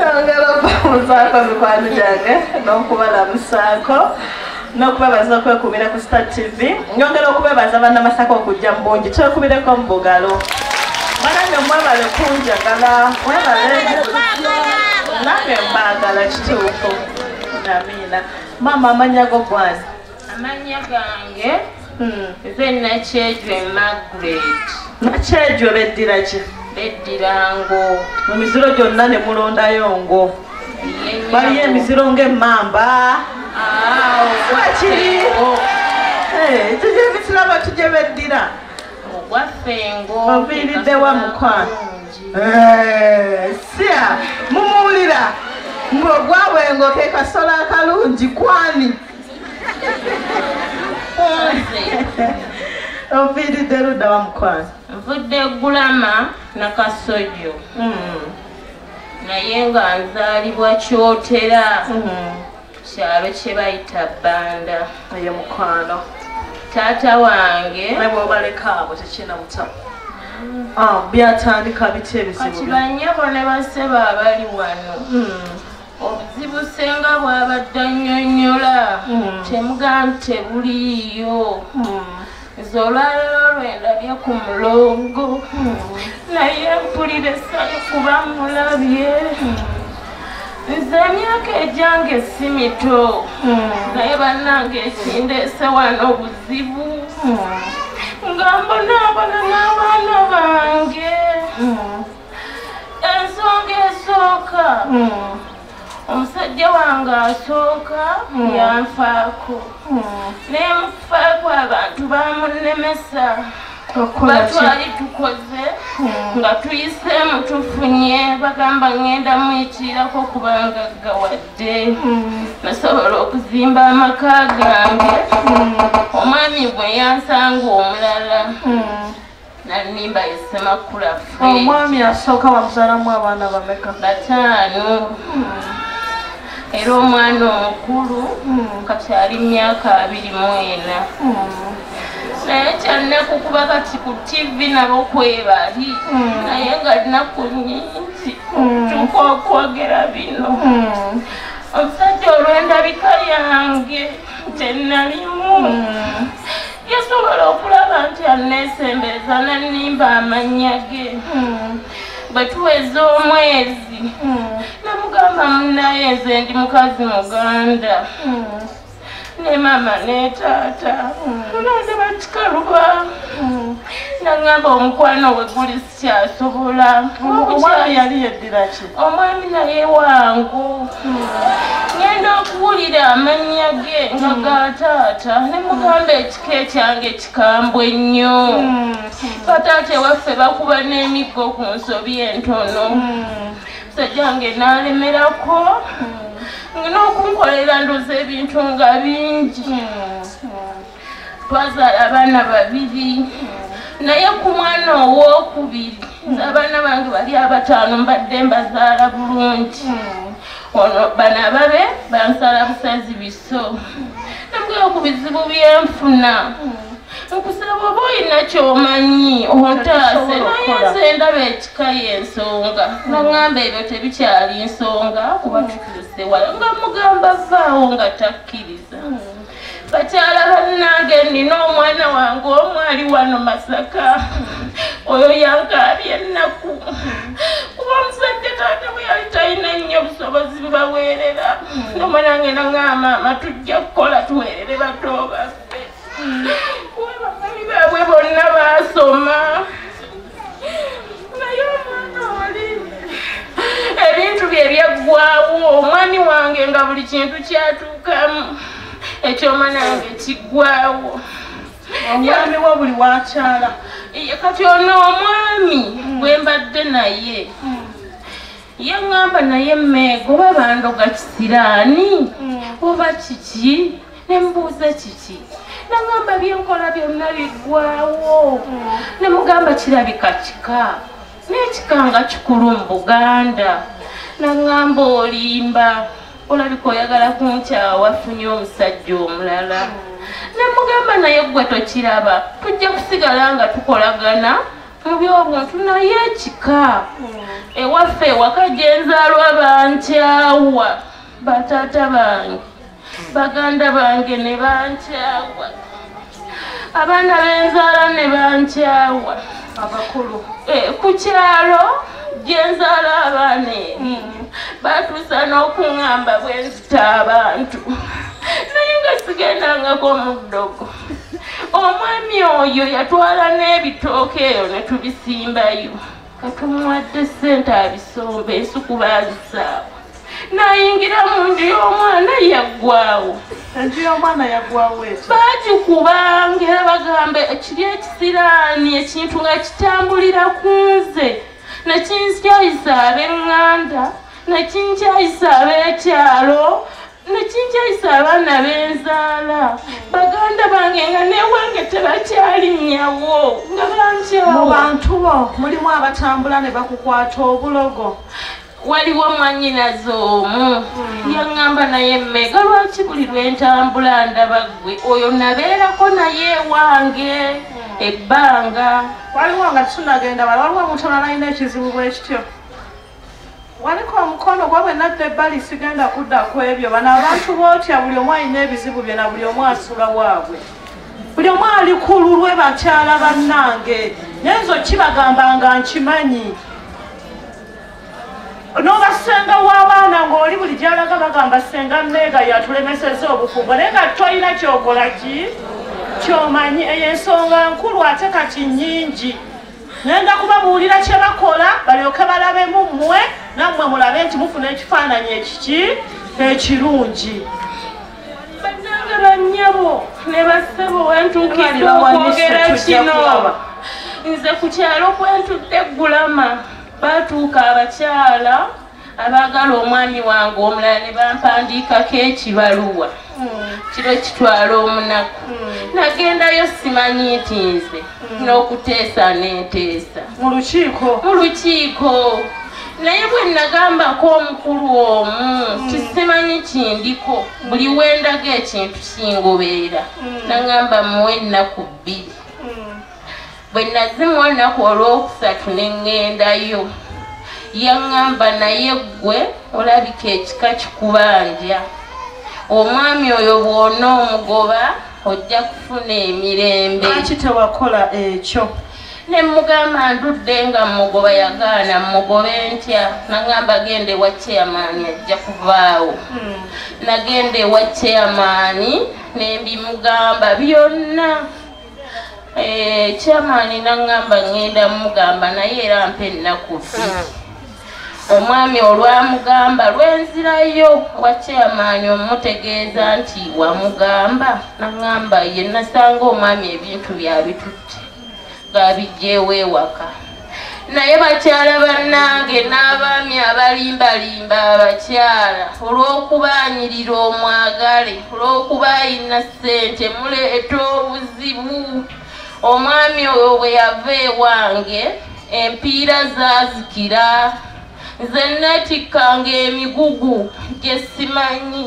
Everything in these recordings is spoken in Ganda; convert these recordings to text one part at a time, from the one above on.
Twagala okubamuzaako mikwano gyange n'okubalamusaako n'okubebaza okwekubira ku Star TV nyongera okubebaza bannamasaka okujja mu bungi twekubireko mu bugalo banange mwebale kunjagala mwebale nange mbaagala kituufu amiina maama amanya go gwange amannya gange hmm. nze nakyejwe magret nakyejwe beddira ki beddira ngo mu miziro gyonna ne mulondayo ngo baliyo emiziro ng'emmamba kiri kiki emisirabo kigye beddira ogwaffe ngo oviiriddewa mukwano sia mumuwulira ng'ogwawengo ke kasola akalungi kwani oviiridde ludda wa mukwano nvudde gulama nakasojjo hmm. naye nga nzaalibwa kyotera hmm. kyalo kye bayita banda eyo mukwano taata wange nebwobalekaabo tekina muta hmm. ah, byatandika biki ebizibu kati banyabo ne basebo abali wano obuzibu senga bwabadde annyonnyola hmm. temuga nti tebuliiyo hmm. nze olwalero lwendabye ku mulongo hmm. naye mpulira essanyu kuba mulabye nze emyaka egyange si mito naye bannange ekindeese wano obuzibu nga mbonaabona n'abaana bange ensonga esooka hmm. omusajja wange asooka hmm. yanfaako nemufaako abantu bamunemesa batwali tukoze nga tuyiseemu tufunye bagamba ngenda muyitiirako kubanga gawadde nasobola okuzimba amaka gange omwami bwe yansanga omulala nanimba esemakula omwami asooka wamuzalamu abaana bameka bataano era omwana omukulu hmm. kati ali myaka abiri mwena hmm. naye kyalinakukuba kati ku tivi nabo kwebali hmm. naye nga linaku nyingi tuka okwogera bino omusajja olwendabika yange tenalimu yasobola okulaba nti anneesembereza n'annimba amannya ge hmm. bwe tuweza omwezi hmm. namugamba munnaye nze ndi mukazi muganda hmm. ne maama ne taata nandaba kikaluba naŋŋamba omukwano we guli kyasobola omukyala yali yeddira ki omwami naye wangu ngenda okuwulira amannya ge nga hmm. ga taata ne mugamba ekika ekyange kikambwe nnyo hmm. bataata ewaffe bakuba n'emiggo ku nsobi entono hmm. sajjange naalemerako n'okunkolera ndoza ebintu nga bingi twazaala abaana babiri naye ku mwana owokubiri abaana bange bali abataano mbadde mbazaala bulungi ono bana babe bansala busazi biso nambweo ku bizibu byenfuna nkusaba oba olina kyomanyi ontaase naye nze ndaba ekika yensonga nagamba ebyo tebikyali nsonga kuba tukirise wala nga mugamba vaawo nga takkiriza bakyala bannange nina omwana wange omu ali wano masaka oyo yankaabye ennaku kuba omusajja taata bwe yali talina nnyo obusobozi bubaweerera nomwana nge nangamba amatujja kukola tuweerere batoobaffe kuba bakami baabwe bonna baasoma ebintu bye byaggwawo omwami wange nga buli kintu kyatuukamu ekyoma nange kiggwawo omwami wo buli wakyala kati ono omwami hmm. bwe mbadde naye hmm. ye ŋŋamba naye mmeega oba bandoga kisiraani hmm. oba kiki nembuuza kiki nagamba byenkola byonna biggwawo nemugamba kirabika kika n'ekika nga kikulu mu buganda nagamba olimba olabika oyagala kunkyawa funye omusajja omulala nemugamba naye gwe tokiraba tujja kusigala nga tukolagana mu byobuntu naye ekika ewaffe ewaka gyenzaalwa bankyawa bataata bange baganda bange ne bankyawa abaana benzaala ne bankyawa abakulu eh, ku kyalo gyenzaala abaana eri hmm. batuusa n'okuŋamba bwe nzita abantu naye nga sigendangako mu ddogo omwami oyo yatwala n'ebitooka eyo ne tubisimbayo katumuwadde sente abisomba ensuku bazisaawo nayingira mu nju y'omwana yaggwawo enju y'omwana yaggwawo ekyo bagikubanga era bagamba ekiri ekisiraani ekintu nga kitambulira ku nze nekinkyayisa ab'eŋŋanda nekinkyayisa ab'ekyalo nekinkyayisa abaana benzaala baganda bange nga newange tebakyalinyawo nga bankyamu bantu bo mulimu abatambula ne bakukwata obulogo waliwo mwanyinaze omu hmm. yaŋŋamba naye mmega lwaki buli lwentambula ndaba ggwe oyo nabeerako naye ewange hmm. ebbanga waliwo nga tunagenda waliwo omuntu onalayina ekizibu bwekityo waliko omukono gwa bwe nadda ebbali sigenda kudda ku ebyo bano abantu bootya buli omu alina ebizibu byona buli omu asula waabwe buli omu ali ku lulwe bakyala bannange nenzo kibagamba nga nkimanyi nobasenga wabaana ngaoli buli gyalaga bagamba senga meega yatulemeseza obufumbo naye nga tolina kyokola ki kyomanyi eyo ensonga nkulu ate kati nyingi nenda kubabuulira kye bakola balyoke balabe mu mmwe nammwe mulabe nti mufuna ekifaananyi ekiki ekirungi bannange bannyabo ne bassebo wentuukirira okwogera kino nze ku kyalo kwentudde eggulama baatuuka abakyala abaagala omwami wange omulala ne bampandiikako ekibaluwa kiro kitwala omunaku nagendayo simanyi nti nze n'okuteesa n'enteesa mu lukiiko mu lukiiko naye bwe nagambako omukulu omu hmm. kisimanyi kindiko buli wendaga ekintu kingobeera hmm. nagamba muwe ennaku bbiri bwe nazimu olunaku olwokusatu ne ŋŋendayo yaŋŋamba naye ggwe olabika ekika kikubanja omwami oyo bwona omugoba ojja kufuna emirembe aki tewakola ekyo ne mugamba ndudde nga mugoba yagaana mugobe ntya naŋamba genda ewa chairmaani ajja kuvaawo hmm. nagenda ewa chairmaani nembimugamba byonna Eh, chairman nangamba ngenda mugamba naye era mpa ennaku bbiri omwami olwamugamba lwenzirayo wa chairman omutegeeza nti wamugamba nangamba ye nasanga omwami ebintu byabitutte gaabijjeewo ewaka naye bakyala bannange n'abaami abalimbalimba abakyala olw'okubaanyirira omwagale olw'okuba ayina ssente muleeta obuzibu omwami oyo bwe yava ewange empiira zaazikira nze nneetikkanga emigugu gye simanyi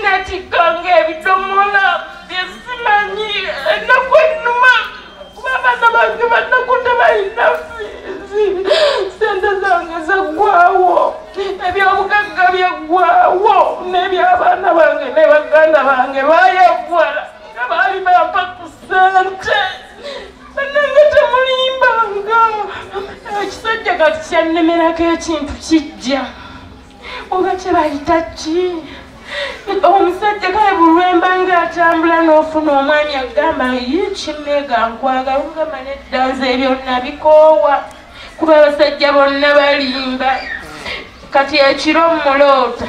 natikanga ebidomola byesimanyi enaku enuma kuba abaana bange banakuta balina fiizi sente zange zaggwawo ebyobugagga byaggwawo n'ebyabaana bange ne baganda bange bayagwala nga baali bampa ku sente banange temulimbanga ekisajja kati kyannemerako ekintu kijja oba kyebayita ki omusajja kale bulwemba nga atambula n'ofuna omwami agamba ye kimega nkwagala ogamba nedda nze ebyo nabikoowa kuba abasajja bonna balimba kati ekiro muloota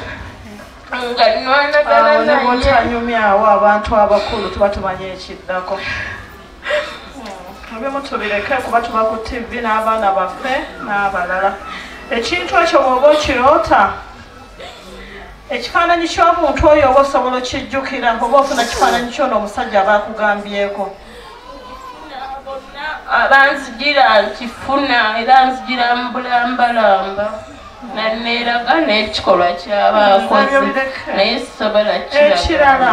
nga nwanagana naye awo abantu abakulu tuba tumanya ekiddako mubimu tubireke kuba tuba ku tv n'abaana baffe n'abalala ekintu ekyo bwoba okiroota ekifaananyi ky'omuntu oyo oba osobola okijjukira oba ofuna kifaananyi kyono omusajja aba akugambyeko abanzigira nkifuna era nzigira mu bulambalamba nanneeraga n'ekikolwa kyaba akoze naye sisobola kirala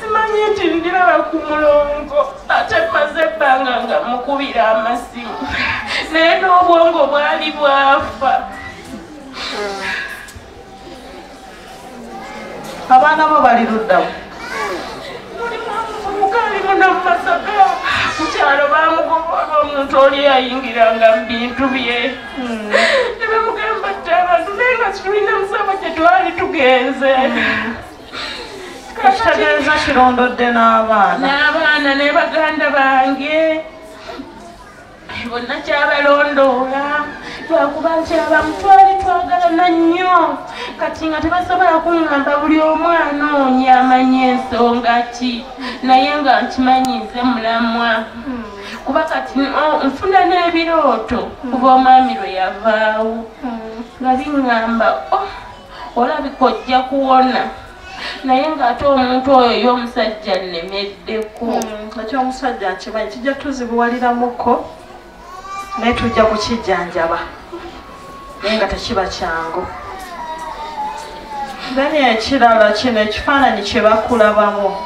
simanyi nti ndiraba ku mulongo ate maze ebbanga nga mukubira amasimu naye n'obwongo bwali bwafa abaana bo bali luddamu mukyalo bamugoba omuntu oli yayingiranga mu bintu bye nebamugamba ti abantu naye nga tulina musaba gyetwali tugenze ekitegeeza kirondodde n'abaana n'abaana ne baganda bange bonna kyabalondoola lwakuba nti abamu twali twagalana nnyo kati nga tebasobola kuŋŋamba buli omu anoonya amanya ensonga ki naye nga nkimanyize mulamwa kuba kati mm, oh, nfuna n'ebirooto mm. kuba omwami lwe yavaawo mm. nga biŋŋamba oh, olabika ojja kuwona naye ng'ate omuntu oyo y'omusajja nnemeddeko ekyomusajja nkimanyi kijja tuzibuwaliramuko naye tujja kukijjanjaba naye nga tekiba kyangu then ekirala kino ekifaananyi kye bakulabamu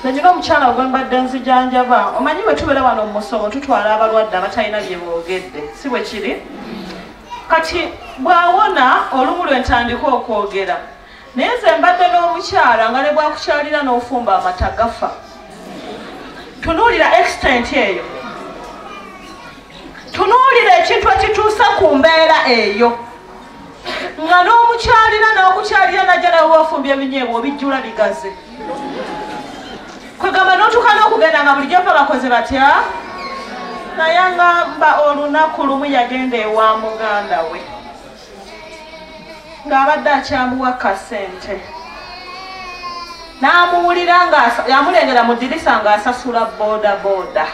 nanyina omukyala gwe mbadde nzijanjaba omanyi bwe tubeera wano mu musomo tutwala abalwadde abatalina bye boogedde si bwe kiri kati bw'awona olumu lwe ntandika okwogera naye nze mbadde n'omukyala nga ne bwakukyalira n'ofumba amata gafa tunuulira extent eyo tunuulira ekintu ekituusa ku mbeera eyo nga n'omukyalira n'okukyalira najja nawe wafumbi ebinyeebwa obijjula bigaze kwegamba n'otuuka n'okugenda nga bulijjo fa bakoze batya naye nga mba olunaku lumu yagenda ewa muganda we ng'abadde akyamuwa kasente n'amuwulira nga yamulengera mu dirisa ng'asasula booda booda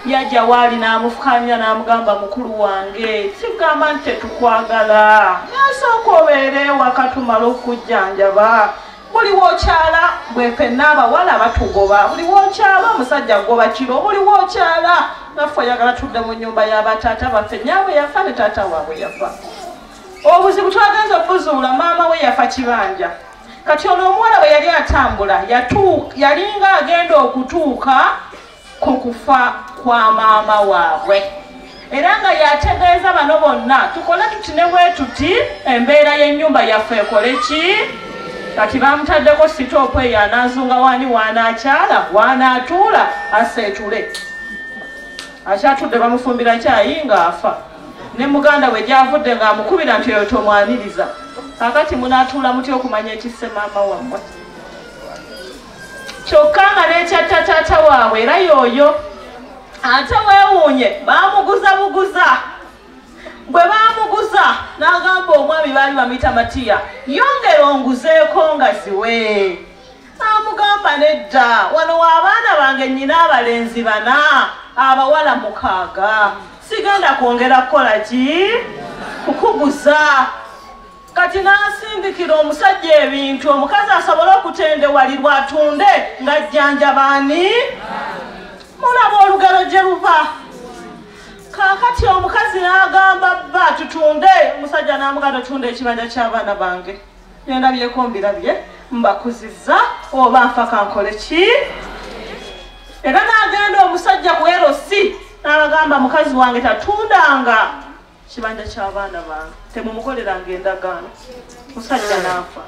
yajja waali n'amufukanya n'amugamba mukulu wange sigamba nti tetukwagala nasooka obeere wakatumala okujjanjaba buli wokyala bwe fenna abawala batugoba buli wokyala omusajja goba kiro buli wokyala naffe oyagala tudde mu nyumba yabataata baffe nyabwe yafa ne taata waabwe yafa obuzibu twagenza okuzuula maama we yafa kibanja kati ono omuwala bwe yali atambula yalinga agenda okutuuka ku kufa kwa maama waabwe era nga yategeeza bano bonna tukole tuti ne bwe tuti embeera y'ennyumba yaffe ekole ki kati bamutaddeko sitoopu eyo ananzunga wani waanaakyala waanaatuula aseetule akyatudde bamufumbira kyayi ng'afa ne muganda we gyavudde ng'amukubira nti oyo tomwaniriza kakati munaatuula muty okumanya ekisse maama wammwe kyokka nga n'ekyatta taata waabwe era yooyo ate weewuunye baamuguza buguza bwe baamuguza n'agamba omwami baali bamuyita matiya yongera onguzeeko nga ziwe amugamba nedda wano waabaana bange nnyina abalenzi bana abawala mukaaga sigenda kwongera kukola ki kukuguza kati n'asindikira omusajja ebintu omukazi asobole okutendewalirwa atunde ng'ajjanjabaani mulaba olugero gye luva kaakati omukazi n'agamba bba tutunde omusajja n'amuganda otunda ekibanja ky'abaana bange byona byekombirabye mbakuziza oba nfaka nkole ki era n'agenda omusajja ku erosi n'abagamba mukazi wange tatundanga kibanja kyabaana bange temumukoleranga endagaano musajja naafa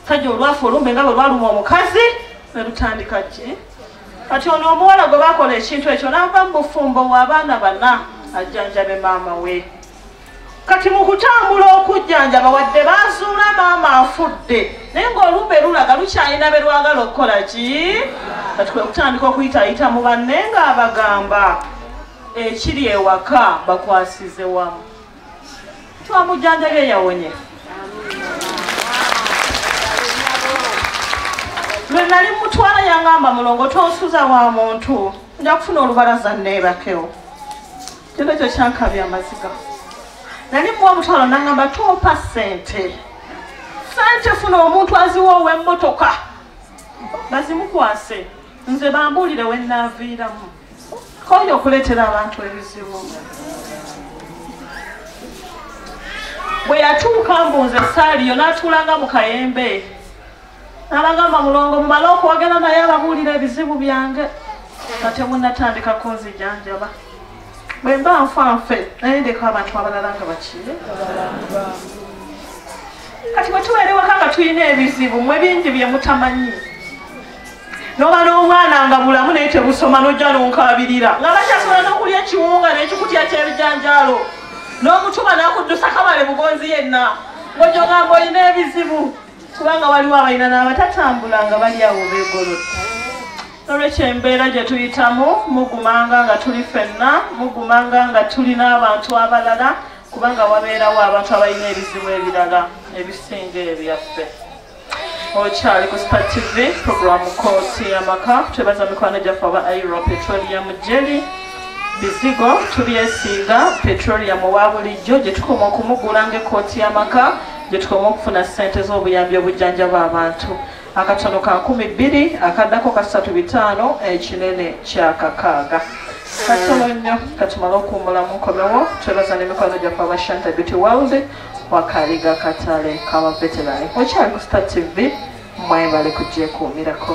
sajja olwafa olumbe nga lwe lwaluma omukazi nelutandika ki kati ono omuwala gwe bakola ekintu ekyo nava mu bufumbo waabaana bana ajjanjabe maama we kati mu kutambula okujjanjaba wadde bazuula maama afudde naye ngaolumbe lulaga lukyalina be lwagala okukola ki kati kwe kutandika okuyitayita mu banne ng'abagamba ekiri ewaka bakwasize wamu twamujanjabye yawonye lwe nali mutwala yangamba mulongo tonsuza wa muntu nja kufuna olubalaza neebakewo kino ekyo kyankabya amaziga nali muwa omutwalo nangamba tompa sente sente funa omuntu aziwa ow'emmotoka bazimukwase nze bambuulire wenaaviiramu Konya okuleetera abantu ebizibu bwe yatuuka mbu nze saaliyo n'atuulanga mu kayembe n'abagamba mulongo mumale okwogera naye ababuulira ebizibu byange nga temunatandika kunzijanjaba bwe mba nfa nfe naye ndeka abantu abalala nga bakiire kati bwe tubeerewaka nga tulina ebizibu mwe bingi bye mutamanyi noba n'obwana nga bulamu naye tebusoma nojja nonkabirira nga bakyasobola n'okulya ekiwunga n'ekikutya ky'ebijanjaalo n'omutuma nakuddusa kabale bugonzi yenna ng'ojja ogamba olina ebizibu kubanga waliwo abalina n'abatatambula nga bali awo begolodde nolwekyo embeera gye tuyitamu mugumanga nga tuli fenna mugumanga nga tuli n'abantu abalala kubanga wabeerawo abantu abalina ebizibu ebirala ebisinga ebyaffe okyali ku spa tv programu kooti yamaka twebaza mikwano gyaffe aba airo petroleum jeli bizigo tubyesiiga petroleum owa bulijjo gye tukoma okumugula ngaekooti yamaka gye tukoma okufuna ssente z'obuyambi obujjanjaba abantu akatono ka nkumi bbiri akaddako kasatu bitaano ekinene kyakakaaga katono nnyo katumale okuwumulamu nkomewo twebaza n'emikwano gyaffe aba shanta beauty world wakaliga katale kabaveterani okyali ku star tv mwebale kugyekuumirako